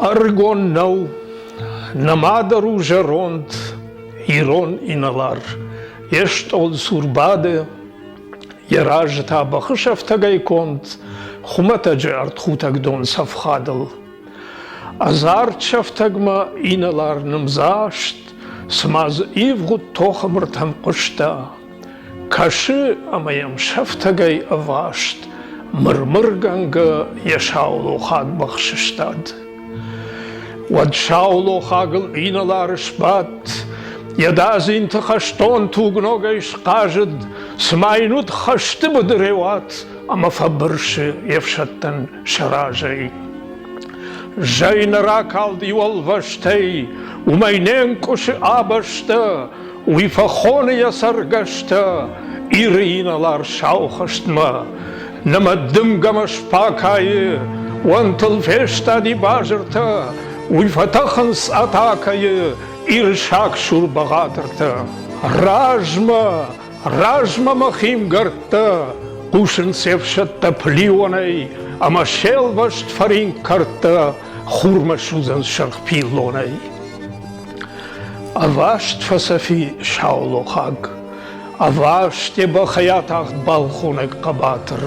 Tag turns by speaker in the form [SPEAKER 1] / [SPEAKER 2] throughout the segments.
[SPEAKER 1] Ӕрыгон нӕу, нӕмадӕр у зӕронд, ирон инӕлар. Йе стъол сур бады, йӕ разы та бӕхы сӕфтӕгӕй конд хуымӕтӕджы ӕртхутӕг дон цӕфхадыл. Ӕдзард сӕфтӕгмӕ инӕлар нымдзаст, цыма дзы ивгъуыд тохы мыртӕм хъуыста. Кӕсы ӕмӕ йӕм сӕфтӕгӕй ӕваст, мырмыргӕнгӕ йӕ саулохаг бӕх сыстад. Уӕд саулохагыл инӕлар сбадт, йӕ дадзинты хӕстон тугногӕй схъазыд, цыма йын уыд хӕсты быдырӕуат ӕмӕ фӕбырсы йе фсӕдтӕн сӕ разӕй. Зӕй нӕ ракалд иу ӕлвӕстӕй, уымӕй не нкъуысы а бӕстӕ, Уый фӕхоны йӕ цӕргӕстӕ Иры инӕлар-сау хӕстмӕ. Нӕмӕ дымгӕмӕ сфакайы, Уӕнтыл фестади базыртӕ, Уый фӕтӕхынц атакӕйы Ирсаг сурбӕгъатыртӕ. Размӕ, размӕ мӕ химгӕрдтӕ Хъусынц се фсӕдтӕ плионӕй, Ӕмӕ се лвӕст фӕринк кӕрдтӕ Хурмӕ судзӕн сырх пиллонӕй. Ӕваст фӕцӕфи саулохаг, Ӕваст е бӕхӕй атагъд балхонӕг хъӕбатыр.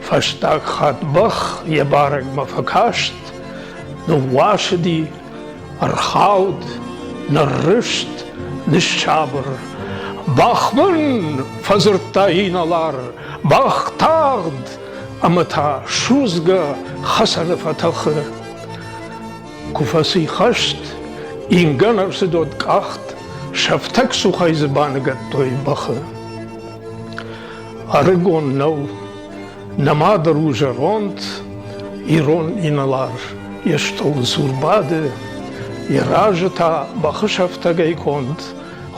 [SPEAKER 1] Фӕстаг хатт бӕх йе барӕгмӕ фӕкаст, Ныууасыди, ӕрхауд, ныррызт, ныссабыр. Бӕх мын фӕдзырдта инӕлар, бӕх тагъд, ӕмӕ та судзгӕ хӕцӕны фӕтӕхы. Куы фӕцыйхӕст, ингӕн ӕрцыдод къахт, сӕфтӕг цухӕй дзы баныгӕдтой бӕхы. Ӕрыгон нӕу, нӕ мадыр у зӕронд, ирон инӕлар йе стъол дзур бады, йӕ разы та бӕхы сӕфтӕгӕй конд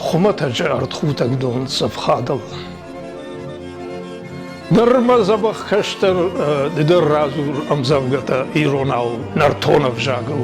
[SPEAKER 1] хуымӕтӕджы ӕртхутӕг дон цӕф хадыл. Ныр мӕ дзӕбӕх кӕстӕр ды дӕр радзур ӕмдзӕвгӕтӕ иронау нӕртон ӕвзагыл.